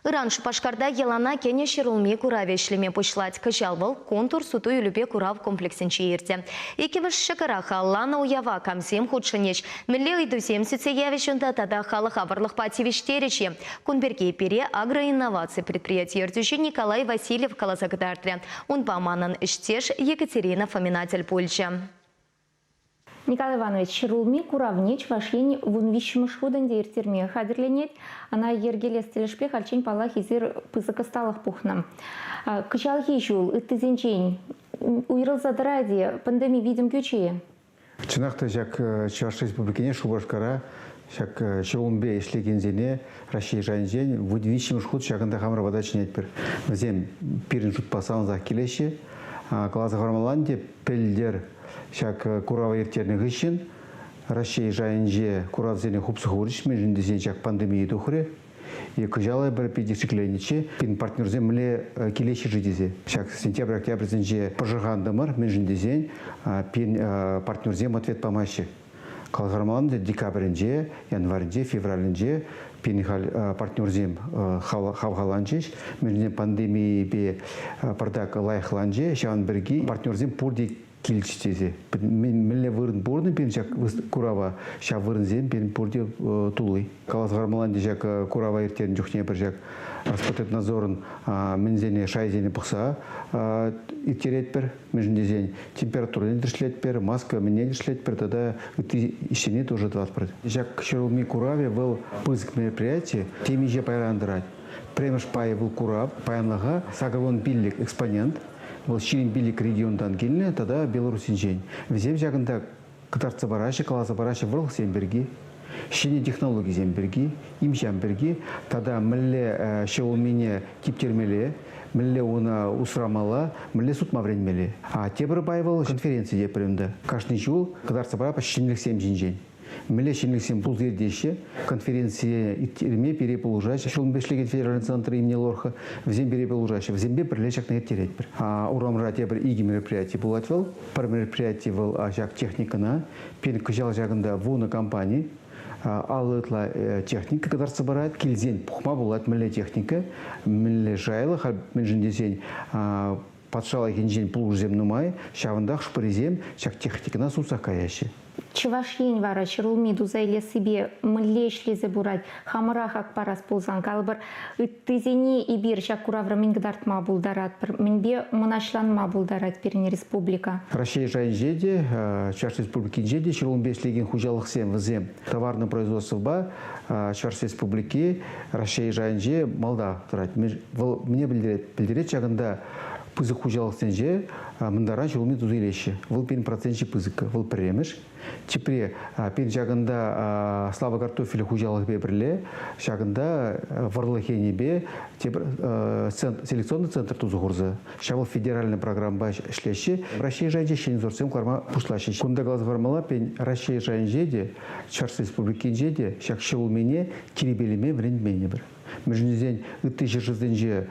Ыран Шупашкарта йӑлана кӗнӗ ҫӗрулми куравӗ ӗҫлеме пуҫлать. Кӑҫал вӑл Контур суту-илӳпе курав комплексӗнче иртӗ. Иккӗмӗш ҫӑкӑра халланӑ уява камсем хутшӑнӗҫ, мӗнле ыйтусем сӳтсе явӗҫ унта тата халӑха вӑрлӑхпа тивӗҫтерӗҫ-и, кун пирки пире агроинноваци предприяти ертӳҫи Николай Васильев каласа кӑтартрӗ. Унпа манӑн ӗҫтеш Екатерина Фомина тӗл пулчӗ. Николай Иванович Рулми куравне Чӑваш Ен вун виҫҫӗмӗш хут ӗнтӗ ирттерме хатӗрленет. Ӑна йӗркелес тӗлӗшпе хальччен паллах эсир пысӑк ӑсталӑх пухнӑ. Кӑҫалхи ҫул ыттисенчен уйрӑлса тӑрать-и пандеми витӗм кӳчӗ-и? Чӑнах та ҫак Чӑваш Республикине Шупашкара ҫак ҫулӑмпе ӗҫлекенсене Раҫҫей шайӗнчен вут виҫҫӗмӗш хут ҫакӑнта хамӑр пата чӗнетпӗр. Вӗсем пирӗн шутпа савӑнсах килеҫҫӗ. Каласа хӑвармалла ӗнтӗ, Пӗлтӗр ҫак курава ирттернӗ хыҫҫӑн Раҫҫей шайӗнче куравсене хупсӑх хурӗҫ, мӗншӗн тесен ҫак пандемие тухрӗ. Е кӑҫал пӗр питӗ шикленнӗччӗ, пин партнерсем мӗнле килеҫҫӗ-ши тесе. Ҫак сентябрь-октябрьсенче пӑшӑрхантӑмӑр, мӗншӗн тесен пин партнерсем ответ памаҫҫӗ. Кӑлхармалан декабрӗнче, январьте, февралӗнче пин халь партнерсем хавхаланчӗҫ. Мӗншӗн пандемийӗпе пӑртак лайӑхланчӗ. Ҫавӑн пирки партнерсем пурте килчӗҫ тесе. Мӗнле вырӑн пурӑннӑ пирӗн ҫак курава, ҫав вырӑнсем пирӗн пурте тулли. Калас Гармаланти ҫак курава ирттернӗ чухне пӗр ҫак Роспотребнадзорӑн мӗнсене шайсене пӑхса ирттеретпӗр. мӗншӗн тесен температурӑне тӗрӗслетпӗр, маска мӗнне тӗрӗслетпӗр тата ытти ӗҫсене тоже тӑватпӑр. Ҫак ҫӗрулми куравӗ вӑл пысӑк мероприяти темиҫе пайран тӑрать. Пӗрремӗш пайӗ вӑл курав, паянлӑха Сакӑрвон пиллӗк экспонент, вӑл ҫирӗм пиллӗк регионтан килнӗ тата Белорусинчен. Вӗсем ҫакӑнта кӑтартса параҫҫӗ, каласа параҫҫӗ вӑрлӑхсем пирки, ҫӗнӗ технологисем пирки, им-ҫам пирки тата мӗнле ҫӗ улмине типтермелле, мӗнле уна усрамалла, мӗнле сутма вӗренмелле. А тепӗр пай вӑл конференци тепӗр ӗнтӗ. Кашни ҫул кӑтартса парапӑр ҫӗнӗлӗхсем ҫинчен. Мӗнле ҫӗнӗлӗхсем пулса иртеҫҫӗ. Конференцие ирттерме пире пулӑшаҫҫӗ ҫулӑм ӗҫлекен федеральный центр имени Лорха. Вӗсем пире пулӑшаҫҫӗ. Вӗсемпе пӗрле ҫакна ирттеретпӗр. Урамра тепӗр икӗ мероприяти пулать вӑл. Пӗр мероприяти вӑл ҫак техникӑна, пин кӑҫал ҫакӑнта вунӑ компани алӑ ытла техника кӑтартса парать, килсен пухма пулать мӗнле техника, мӗнле жайлӑха, мӗншӗн тесен патшалӑхӗнчен пулӑшусем нумай, ҫавӑнтах хӑш-пӗрисем ҫак техникӑна сутса каяҫҫӗ. Чӑваш Ен вара ҫӗрулми туса илессипе мӗнле ӗҫлесе пырать? Хамӑрах ак парас пулсан, калӑпӑр, ыттисене эпир ҫак куравра мӗн кӑтартма пултаратпӑр, мӗнпе мӑнаҫланма пултарать пирӗн республика? Раҫҫей шайӗнче те, Чӑваш Республикинче те ҫӗрулмипе ӗҫлекен хуҫалӑхсем вӗсем товарнӑй производствӑпа Чӑваш Республики Раҫҫей шайӗнче малта тӑрать. Вӑл мӗне пӗлтерет? Пӗлтерет ҫакӑнта пысӑк хуҫалӑхсенче мӑнтара ҫулӑмне туса илеҫҫӗ. Вӑл пин процентче пысӑккӑ, вӑл пӗрремӗш. Тепре пин ҫакӑнта Слава картофель хуҫалӑхӗпе пӗрле ҫакӑнта вӑрлӑх енӗпе тепӗр селекционный центр туса хурса ҫавӑ федеральнӑй программӑпа ӗҫлеҫҫӗ. Раҫҫей шайӗнче ҫӗнӗсорсем кӑларма пуҫлаҫҫӗ. Кунта каласа хӑвармалла, пен Раҫҫей шайӗнче те, Чӑваш Республикинче те ҫак ҫӗр улмине тирпейлеме вӗрентменӗпӗр. мӗншӗн тесен ытти ҫӗршывсенче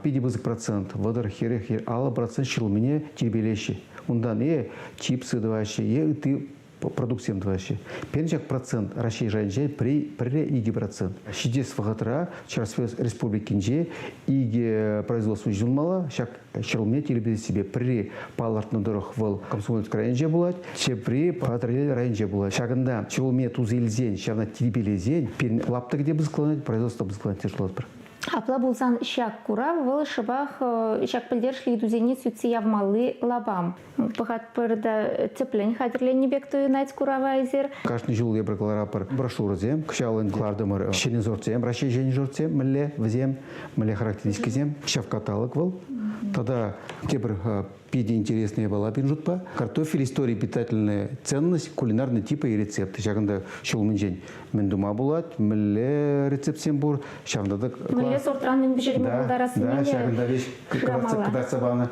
питӗ пысӑк процент, вӑтӑр, эрех е аллӑ процент ҫӑлмине тирпейлеҫҫӗ. Унтан е чипсы тӑваҫҫӗ, е ытти продуктсем тӑваҫҫӗ. Пӗрчак процент Раҫҫей шайӗнче пӗрре икӗ процент. Ҫитес вӑхӑтра Чӑваш Республикинче икӗ производство ҫунмалла. Ҫак ҫӑлне тирпейсипе пӗри палӑртнӑ тӑрӑх вӑл Комсомольск районӗнче пулать, тепри Патӑрьел районӗнче пулать. Ҫакӑнта ҫулне туса илсен, ҫавна тирпейлесен пирӗн лаптӑк те пысӑкланать, производство пысӑкланать тесе шутлатпӑр. Апла пулсан ҫак курав вӑл шӑпах ҫак пӗлтерӗшлӗ ыйтусене сӳтсе явмалли лапам. Пӑхатпӑр та тӗплӗн хатӗрленнӗ пек туйӑнать курава эсир. Кашни ҫул эпир кӑларапӑр брошюрӑсем. Кӑҫалӑн кӑлартӑмӑр ҫӗнӗ сортсем, Раҫҫей ҫӗнӗ сортсем мӗнле вӗсем, мӗнле характеристикӑсем, ҫав каталог вӑл. Тата тепӗр питӗ интересная япала пирӗн шутпа. Картофель истори питательная ценность, кулинарный типа и рецепты. Ҫакӑнта ҫул умӗнчен мӗн тума пулать, мӗнле рецептсем пур, ҫавӑнта та... Мӗнле сортран мӗн пӗҫерме пултарассине да, ҫакӑнта вещь кӑтартса панӑ.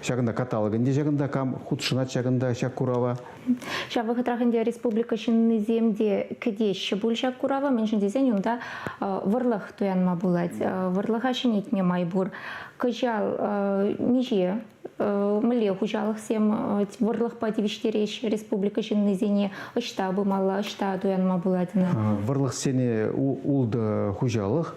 Ҫакӑнта каталог ӗнтӗ ҫакӑнта, кам хутшӑнать ҫакӑнта ҫак курава. Ҫав вӑхӑтрах ӗнтӗ республика ҫыннисем те кӗтеҫҫӗ пуль ҫак курава, мӗншӗн тесен унта вӑрлӑх туянма пулать, вӑрлӑха ҫӗнетме май пур. Кӑҫал миҫе Мӗнле хуҫалӑхсем вӑрлӑхпа тивӗҫтереҫҫӗ республика ҫыннисене ӑҫта пымалла, ӑҫта туянма пулать ӑна? Вӑрлӑхсене ултӑ хуҫалӑх,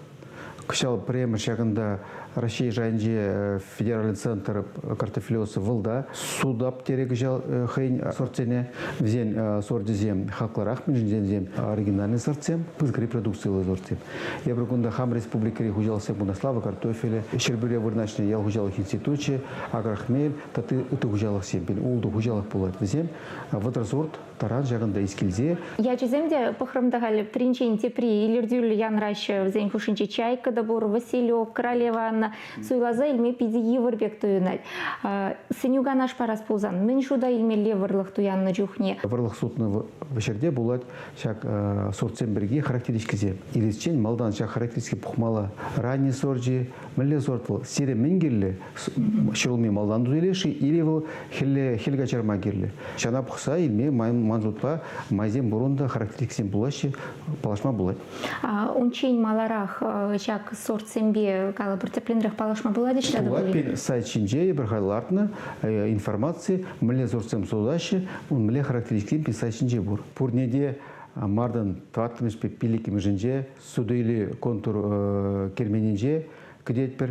кӑҫал пӗрремӗш ҫакӑнта Раҫҫей шайӗнче федеральный центр картофелиоса вӑл та суда пӗтере кӑҫал хӑйӗн сортсене вӗсен сорчӗсем хаклӑрах мӗншӗн тесен оригинальный сортсем пысӑкри продукциллӗ сортсем Эпир кунта хам республикӑри хуҫалӑхсен куннаславӗ картофелӗ, Ҫӗрпӳре вырнаҫнӑ ял хуҫалӑх институчӗ, Агрохмель тата ытти хуҫалӑхсем пин ултӑ хуҫалӑх пулать вӗсем. Вӑтӑрсорт таран ҫакӑнта искилсе. Ячӗсем те пӑхрӑм та халь пӗринчен тепри илӗртӳллӗ янраҫҫӗ. Вӗсен хушшинче чайка та пур, Василек, Королева Анна суйласа илме питӗ йывӑр пек туйӑнать. Сӗнӳ-канаш парас пулсан мӗн шута илмелле вӑрлӑх туяннӑ чухне? Вӑрлӑх сутнӑ ҫӗрте пулать Ҫак сортсем пирки характеристикӑсем иресчен малтан ҫак характеристика пухмалла. Ранний сорчӗ, мӗнле сорт вӑл? Сире мӗн кирлӗ? Ҫӗрулми малтан тутилеш-и или вӑл хӗлле, хӗл каҫарма кирлӗ? Ҫана пухса илме ман шутпа майсем пурӑн та характеристикӑсем пулаҫҫӗ, паллашма пулать. Унччен маларах ҫак сортсемпе калӑпӑр тӗплӗнрех паллашма пулать ӗҫре пулать. Пин сайт ҫинче эпир лартнӑ информаци мӗнле сортсем сутаҫҫӗ, мӗнле характеристикӑсем пин сайт ҫинче пур. Пурне те мартӑн тӑваттӑмӗшпе пиллӗкмӗшӗнче суту-илӳ контур керменӗнче кӗтетпӗр.